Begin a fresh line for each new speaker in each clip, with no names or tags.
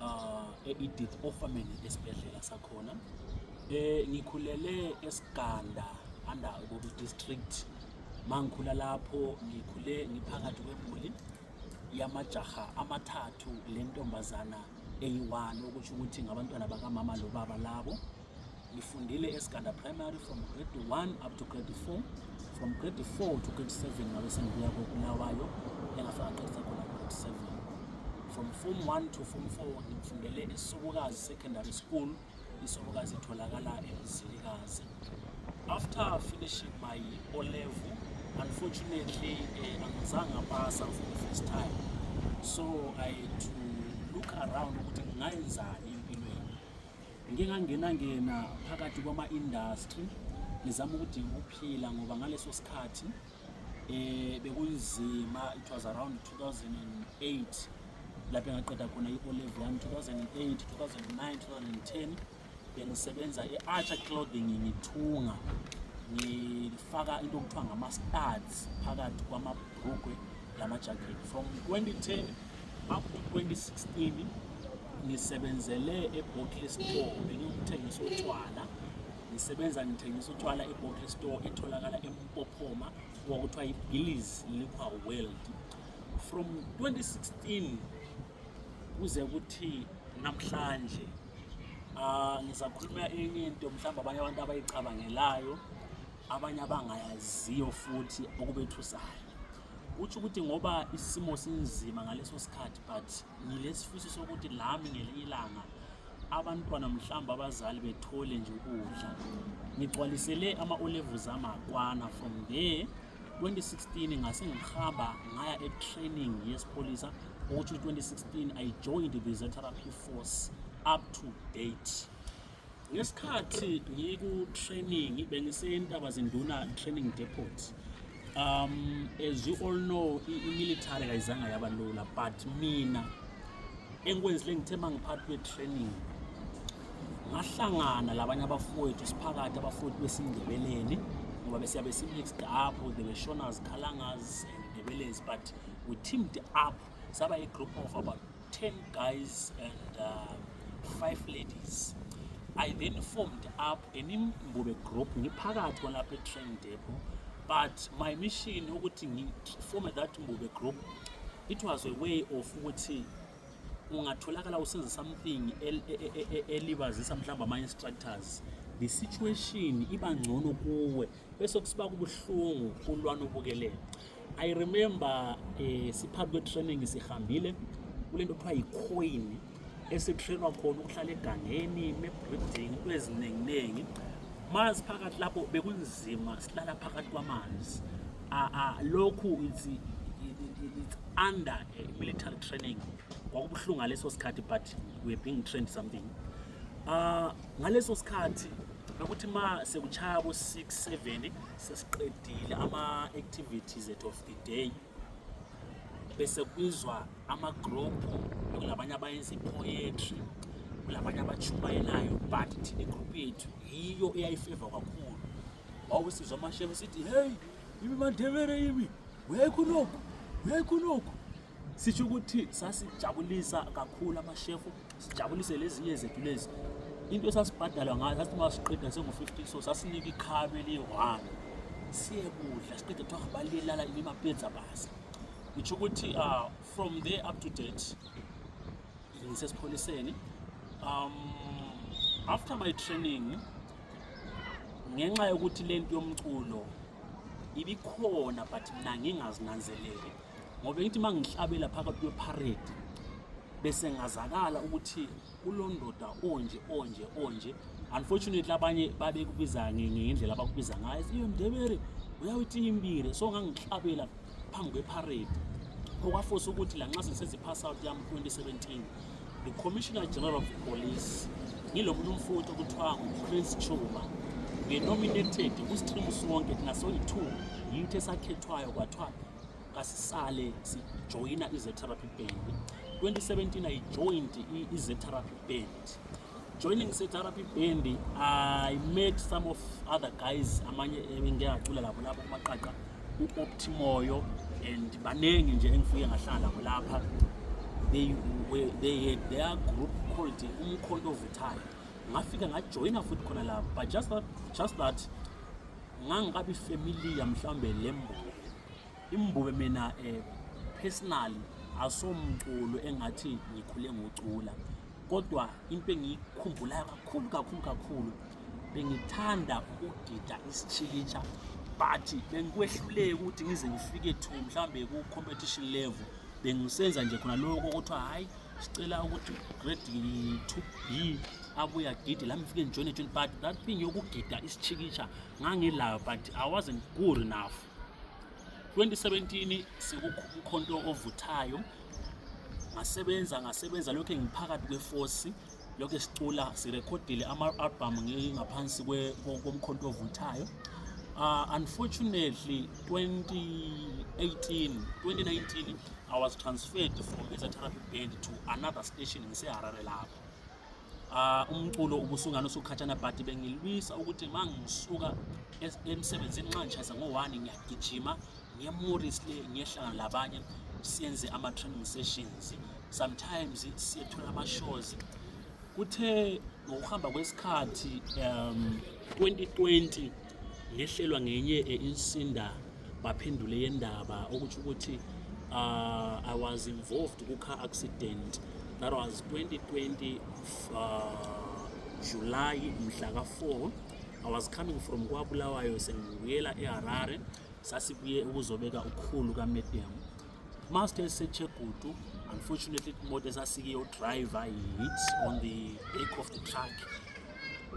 uh, e-edith ofameni esibhedlela sakhona eh ngikhulele esiganda under ububi district mangikhula lapho ngikhule ngiphakathi kwemuli yamajaha amathathu lentombazana eyi-one okusho ukuthi ngabantwana bakamama lobaba labo ngifundile esiganda primary from grade 1 up to grade 4 from grade 4 to grade 7 ngabe sengibuya kobulawayo engafika qedisa khona grade 7 from form 1 to form 4 ngifundele esukukazi secondary school isobokazi itholakala emzilikazi after finishing my o level unfortunately eh, angizange ngapasa for the first time so i had to look around ukuthi ngingayenzani Ngike ngangena ngena phakathi kwama industry ngizama ukuthi ukuphila ngoba ngaleso sikhathi eh bekunzima it was around 2008 lapho ngaqeda khona i-O level yami 2008 2009 2010 bengisebenza e-Archer Clothing ngithunga ngifaka into okuthiwa ngama-studs phakathi kwamabhrugwe lama-jacket from 2010 up to 2016 ngisebenzele eBottle Store bengiwumthengisi otshwala ngisebenza ngithengisa utshwala eBottle Store etholakala eMpophoma kwakuthiwa iBillies Liquor World from 2016 kuze kuthi namhlanje ah ngizakhuluma enye into mhlawumbe abanye abantu abayicabangelayo abanye abangayaziyo futhi okubethusayo Utsho ukuthi ngoba isimo sinzima ngaleso sikhathi but ngilesifiso sokuthi lami ngelinye ilanga abantwana mhlawumbe abazali bethole nje ukudla ngigcwalisele ama-olevu zami akwana from there 2016 ngase ngihamba ngaya e-training yesipholisa ukuthi 2016 i joined the reserve therapy force up to date Ngesikhathi ngiku-training bengisentaba-zinduna training depot um as you all know i-military kayizanga yaba lula but mina engikwenzile ngithe uma ngiphathi kwe-training ngahlangana labanye abafowethu siphakathi abafowethu besindebeleni ngoba besiyabe si-mixed up the beshonas khalangas and ndebelezi but we teamed up saba i-group of about 10 guys and um, five ladies i then formed up inimbube group ngiphakathi kwalapha etrain depot but my mission ukuthi ngiforme that mbube group it was a way of ukuthi ungatholakala usenza something e, e, e, elibazisa mhlawumbe ama-instructors the situation iba ngcono kuwe bese kusiba kubuhlungu kulwana ubukelele i remember eh, siphambi kwe-training sihambile kule nto kuthiwa yi-coin esitrainwa khona ukuhlala egangeni ne-breeding into ezininginingi manzi phakathi lapho bekunzima silala phakathi kwamanzi lokhu it's, it's under eh, military training kwakubuhlungu ngaleso sikhathi but we're being trained something uh, Ngaleso sikhathi bekuthi ma sekuchaya bo 6 7 sesiqedile ama activities at of the day bese kubizwa ama group kulabanye abayenza poetry kulabanye abachumayelayo but thina group yethu yiyo eyayifeva kakhulu wawusizwa amashebe sithi hey ibi mandebere ibi wekho lokhu wekho lokhu sisho ukuthi sasijabulisa kakhulu amashefu sijabulise lezinye zethu lezi into esasibhadalwa ngayo sathi uma siqeda sengu-50 so sasinika ikhabe eliyi-one siyekudla siqeda kuthiwa balilala imapedza basa ngitsho ukuthi uh, from there up to date ngisesipholiseni um after my training ngenxa yokuthi le nto yomculo ibikhona but mna ngingazinanzeleli ngoba ngithi uma ngihlabela phakathi kweparade bese ngazakala ukuthi kulondoda onje onje onje unfortunately abanye babekubiza ngendlela abakubiza ngayo iyo ndebere uyawitimbile so ngangihlabela phambi kweparade okwafosa ukuthi la nxa sengisenza i-pass out yami 2017 the commissioner general of police ngilo muntu umfowethu okuthiwa nguprince chuma ngenominated kusitrimu sonke thina soyi-two yithi esakhethwayo kwathiwa kasisale sijoyina izetherapy band 2017 i joined izetherapy band joining izetherapy band i met some of other guys amanye engiyacula labo labo kumaqaqa u-optimoyo and baningi nje engifike ngahlala nabo lapha they, were, they had their group called umkhonto ovuthayo ngafika ngajoyina futhi khona lapho but just that, just that ngangikabi familiar mhlawumbe le mbube imbube mina eh, personally asomculo engathi ngikhule ngocula kodwa into engiyikhumbulayo kakhulu kakhulu kakhulu bengithanda ukugida isitshikitsha but bengikwehluleki ukuthi ngize ngifike to mhlawumbe ku-competition level bengisenza nje khona lokho kuthiwa hhayi sicela ukuthi grade 2b abuya gidi la ngifike ngijoyine tshini but that thing yokugida isichikisha ngangilayo but i wasn't good enough 2017 sekukhonto ovuthayo ngasebenza ngasebenza lokhu ngiphakathi kwefosi Lokhu sicula sirekhodile ama-album ngingaphansi komkhonto ovuthayo Uh, unfortunately, 2018, 2019, I was transferred from as a therapy band to another station in Seharare lapho. Uh, umculo ubusungana usukhathana but bengilwisa ukuthi mangisuka emsebenzini nxa ngishayisa ngo-1 ngiyagijima nge-Morris le ngiyehlangana labanye senze ama-training sessions sometimes siyethola ama-shows kuthe ngokuhamba kwesikhathi um 2020 ngehlelwa ngenye insinda baphendule yendaba ukuthi ukuthi uh, I was involved ku car accident that was 2020 uh, July mhla ka 4 I was coming from KwaBulawayo sengibuyela eHarare sasibuye ukuzobeka ukhulu kamedium master esechegudu unfortunately imoto esasikiyo driver hit on the back of the truck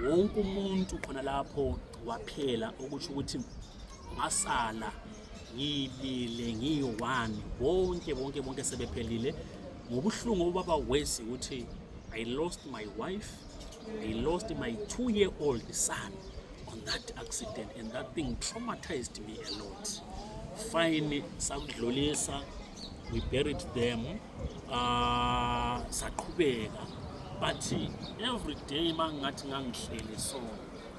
wonke umuntu khona lapho waphela okusho ukuthi ngasala ngibile ngiyi-one bonke bonke bonke sebephelile ngobuhlungu obaba wesi ukuthi i lost my wife He lost my two year old son on that accident and that thing traumatized me a lot. Fine sakudlulisa we buried them uh, saqhubeka but every day mangathi ngangihlele so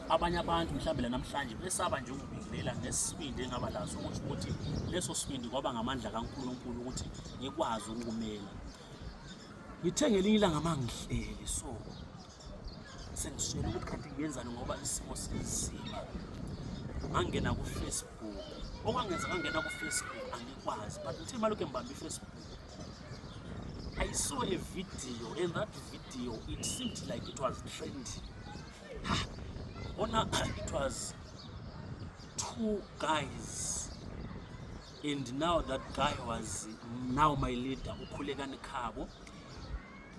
abanye abantu mhlawumbe la namhlanje besaba nje ukubingelela ngesibindi engaba laso ukuthi ukuthi leso sibindi kwaba ngamandla kaNkulunkulu ukuthi ngikwazi ukumela ngithe ngelinye ilanga mangihleli so sengishela ukuthi kanti ngiyenzani ngoba isimo sinzima ngangena kufacebook okwangenza ngangena kufacebook angikwazi but ngithe malokhu embamba ifacebook I saw a video and that video it seemed like it was trendy ona it was two guys and now that guy was now my leader ukhulekani khabo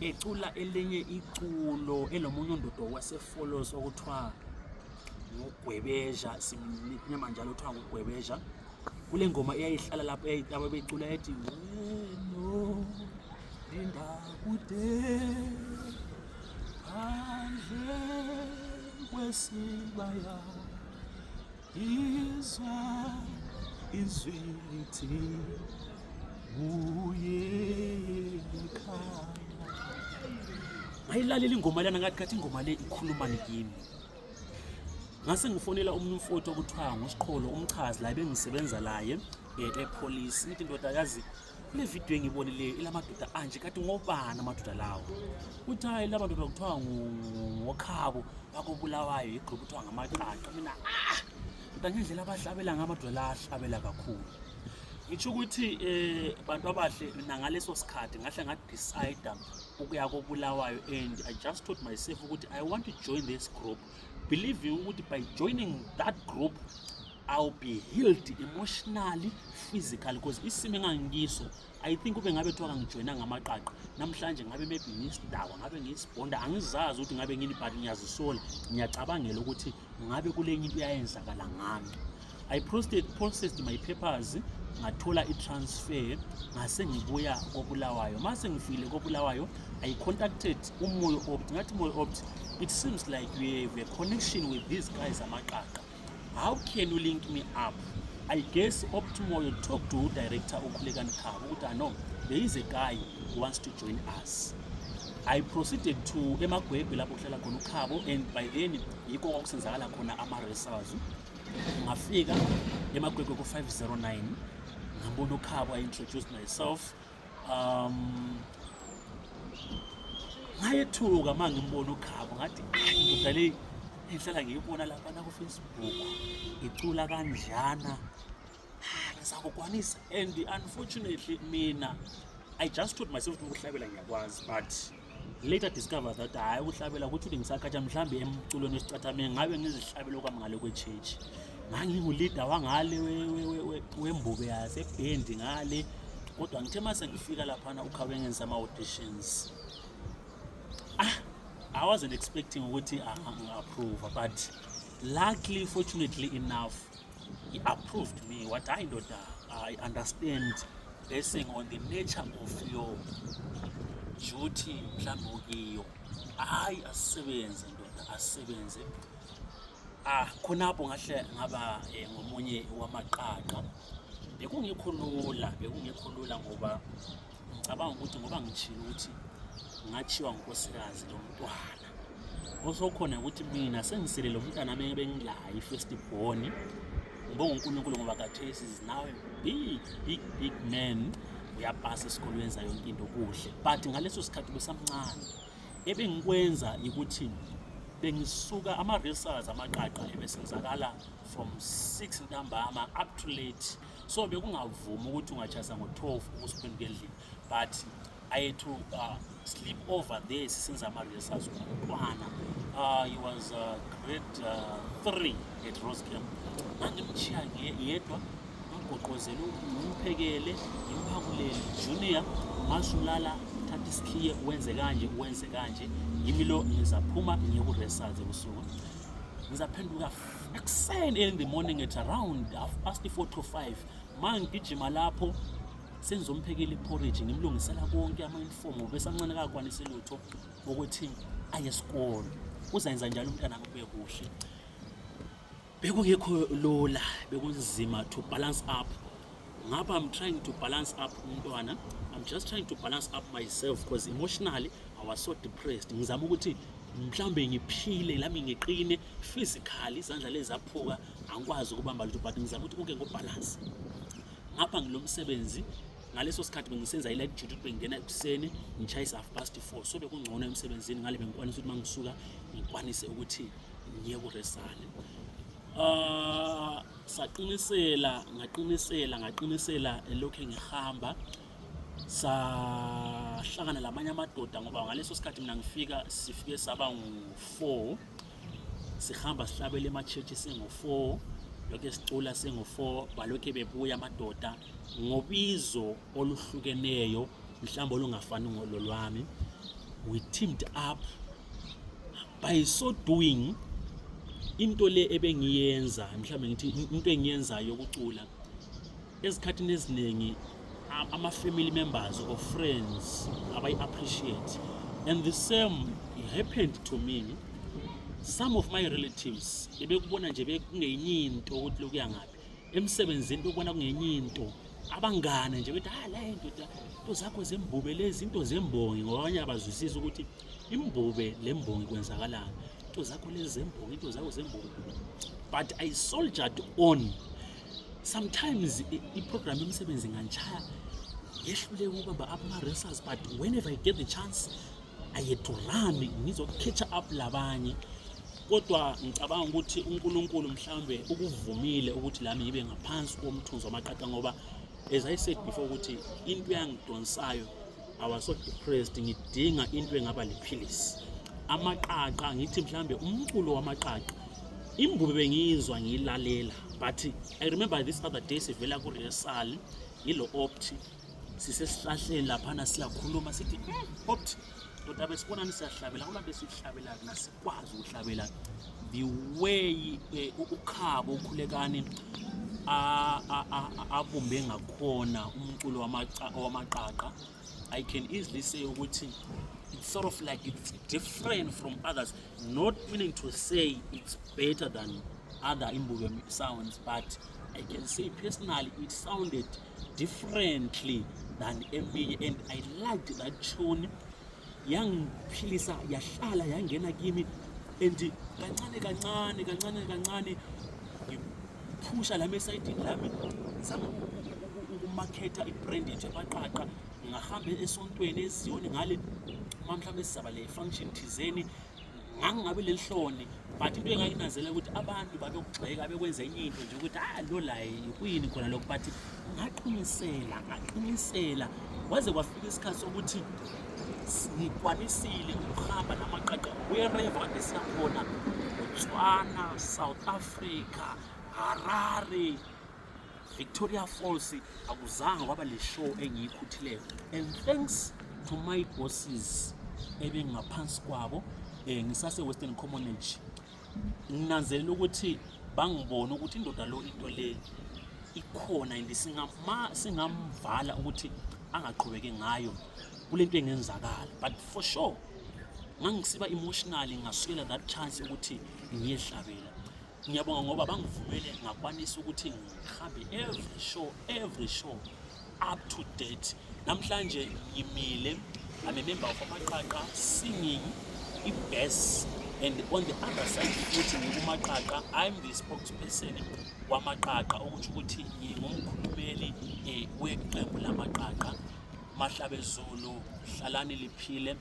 ecula elinye iculo elomunye undodo wasefollows okuthiwa ngugwebeja simnyama njalo kuthiwa ngugwebeja kule ngoma eyayihlala lapho eyayitaba becula ethi weno linda kude phandle kwesibaya izwa izwi lithi uyekhaya ngayilalela ingoma lana ngathi kathi ingoma le ikhulumani kimi ngase ngifonela omunye umfowethu okuthiwa ngusiqholo umchazi la bengisebenza laye um epolisi ithi ndodakazi kule vidiyo engiyibonileyo ilamadoda anje kati ngobani amadoda lawo kuthi hayi la madoda kuthiwa ngokhabo bakobulawayo yigxuba kuthiwa ngamacaca mina ah kodwa ngendlela abahlabela ngamadoda la ahlabela kakhulu ngitsho ukuthi um bantu abahle mina ngaleso sikhathi ngahle ngadicida ukuya kobulawayo and i just told myself ukuthi i want to join this group believe you ukuthi by joining that group I'll be healed emotionally physically because isimo engangikiso I think ube ngabe kuthiwa kangijoyina ngamaqaqa namhlanje ngabe maybe ngiyisidakwa ngabe ngiyisibonda angizazi ukuthi ngabe ngini but ngiyazisola ngiyacabangela ukuthi ngabe kule nto into yayenzakala ngami I processed, processed my papers ngathola i-transfer ngase ngibuya kobulawayo uma sengifikile kobulawayo i contacted umoyo opt ngathi umoyo opt it seems like we have a connection with these guys amaqaqa how can you link me up i guess opt moyo talk to director ukhulekani khaba ukuthi ano there is a guy who wants to join us i proceeded to emagwebhe lapho kuhlala khona ukhabo and by then yikho kwakusenzakala khona ama-result ngafika emagwegwe ku-509 ngambona ukhabo i introduced myself um ngayethuka uma ngimbona ukhabo ngathi ndoda le ngihlala ngiyibona lapha nakufacebook icula kanjana ngizakukwanisa and unfortunately mina i just told myself ukuthi ukuhlabela ngiyakwazi but later discover that hhayi ukuhlabela ukuthi uthi ngisakhatsha mhlawumbe emculweni wesicathame ngabe ngizihlabela okwami ngale kwe-church ngangingulida wangale wembuke yasebhendi ngale kodwa ngithe uma sengifika laphana ukhawe ngenza ama-auditions ah i wasn't expecting ukuthi angi-approva but luckily fortunately enough He approved me what I know that I understand basing on the nature of your duty mhlawumbe okiyo hayi asisebenze ndoda asisebenze ah khonapho ngahle ngaba eh, ngomunye wamaqaqa bekungekho lula bekungekho lula ngoba ngicabanga ukuthi ngoba ngitshilo ukuthi ngathiwa ngunkosikazi lomntwana osokhona ukuthi mina sengiselele umntana mina bengilayo i-first born ngibonga unkulunkulu ngoba kathesi is now a big big big man uyapasa esikolweni wenza yonke into kuhle but ngaleso sikhathi besamncane ebengikwenza ukuthi bengisuka ama-resas amaqaqa ebesenzakala from 6 ntambama up to late so bekungavumi ukuthi ungachasa ngo-12 ukusiphenduka endlini but I to uh, sleep over there sisenza ama-rehearsals ngomntwana uh, he was uh, grade uh, three at rose camp ngangimchiya yedwa ngimgoqozele ngimphekele ngimphangulele junior masulala thatha isikhiye wenze kanje wenze kanje yimi lo ngizaphuma ngiye ku-rehearsals ebusuku ngizaphenduka ekuseni in the morning at around half past 4 to 5 ma ngigijima lapho sengizomphekela iporridge ngimlungisela konke ama-uniform ngoba esamncane kakwanise lutho ukuthi aye esikole uzayenza njalo umntana kubuye kuhle bekungekho lula bekunzima to balance up ngapha i'm trying to balance up umntwana i'm just trying to balance up myself because emotionally i was so depressed ngizama ukuthi mhlawumbe ngiphile lami ngiqine physically izandla lezaphuka angikwazi ukubamba lutho but ngizama ukuthi konke ngobhalansi ngapha ngilo msebenzi ngaleso sikhathi bengisenza i-light duty ukuthi bengingena ekuseni ngishayise half past four so bekungcono emsebenzini ngale bengikwanisa ukuthi uma ngisuka ngikwanise ukuthi ngiye kuresane um ah, saqinisela ngaqinisela ngaqinisela elokhu ngihamba sahlangana lamanye amadoda ngoba ngaleso sikhathi mina ngifika sifike saba ngu-four sihamba sihlabela ema-church singo-four lokhu sicula singo-four balokhu bebuya amadoda ngobizo oluhlukeneyo mhlawumbe olungafani ngololwami we teamed up by so doing into le ebengiyenza mhlawumbe ngithi into engiyenzayo yokucula Ezikhathini eziningi ama family members or friends abayi appreciate and the same happened to me some of my relatives ebekubona nje bekungenye into ukuthi lokuya ngaphi emsebenzini bekubona kungenye into abangane nje bethi hayi la indoda into zakho zembube lezi into zembongi ngoba abanye abazwisisi ukuthi imbube le mbongi kwenzakalani into zakho lezi zembongi into zakho zembongi but i soldiered on sometimes iprogram yomsebenzi nganjaya yehlule ukubamba ama-racers but whenever i get the chance ayedurami ngizokukhetha up labanye kodwa ngicabanga ukuthi uNkulunkulu mhlambe ukuvumile ukuthi lami ngibe ngaphansi komthunzi wamaqaqa ngoba as i said before ukuthi into yangidonsayo i was so depressed ngidinga into engaba liphilisi amaqaqa ngithi mhlambe umculo wamaqaqa Imbubi bengiyizwa ngiyilalela but I remember this other day sivela ku rehearsal yilo opt sisesihlahleni laphana siyakhuluma sithi hmm, opt ndoda besibonani siyahlabela kulapho sihlabela kna sikwazi ukuhlabela the way eh, ukhabo ukhulekani abumbe ngakhona umculo wamaqaqa i can easily say ukuthi it's sort of like it's different from others not willing to say it's better than other Imbuke sounds, but I can say personally it sounded differently than eminye and I liked that tune yangiphilisa yahlala yangena kimi and kancane kancane kancane kancane ngiphusha lami esayidini lami zama ukumakhetha ibrand yethu yamaqaqa ngahambe esontweni eziyoni ngale uma mhlawumbe sizaba le function thizeni ngangingabe lelihloni but into engakinazela ukuthi abantu babekugxeka bekwenza enye into nje ukuthi ah lo laye kuyini khona lokho but ngaqinisela ngaqinisela waze kwafika isikhathi sokuthi ngikwanisile ukuhamba namaqaqa wherever kade siyakhona botswana south africa harare Victoria Falls akuzange kwaba le show engiyikhuthileyo and thanks to my bosses ebengaphansi kwabo eh ngisase Western Commonage nginanzelela ukuthi bangibona ukuthi indoda lo into le ikhona and singama singamvala ukuthi angaqhubeke ngayo kulento engenzakala but for sure ngangisiba emotionally ngasukela that chance ukuthi ngiyehlabela Ngiyabonga ngoba bangivumele ngakwanisa ukuthi ngihambe every show every show up to date. Namhlanje ngimile I'm a member of Amaqaqa singing ibest and on the other side futhi ngikuMaqaqa I'm the spokesperson wamaqaqa ukuthi ukuthi ngingumkhulumeli eh, weqembu lamaqaqa mahlabe zulu hlalani liphile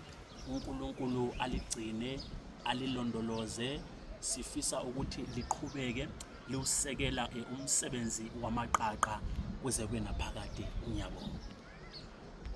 uNkulunkulu aligcine alilondoloze sifisa ukuthi liqhubeke liwusekela eh, umsebenzi wamaqaqa kuze kwenaphakade ngiyabonga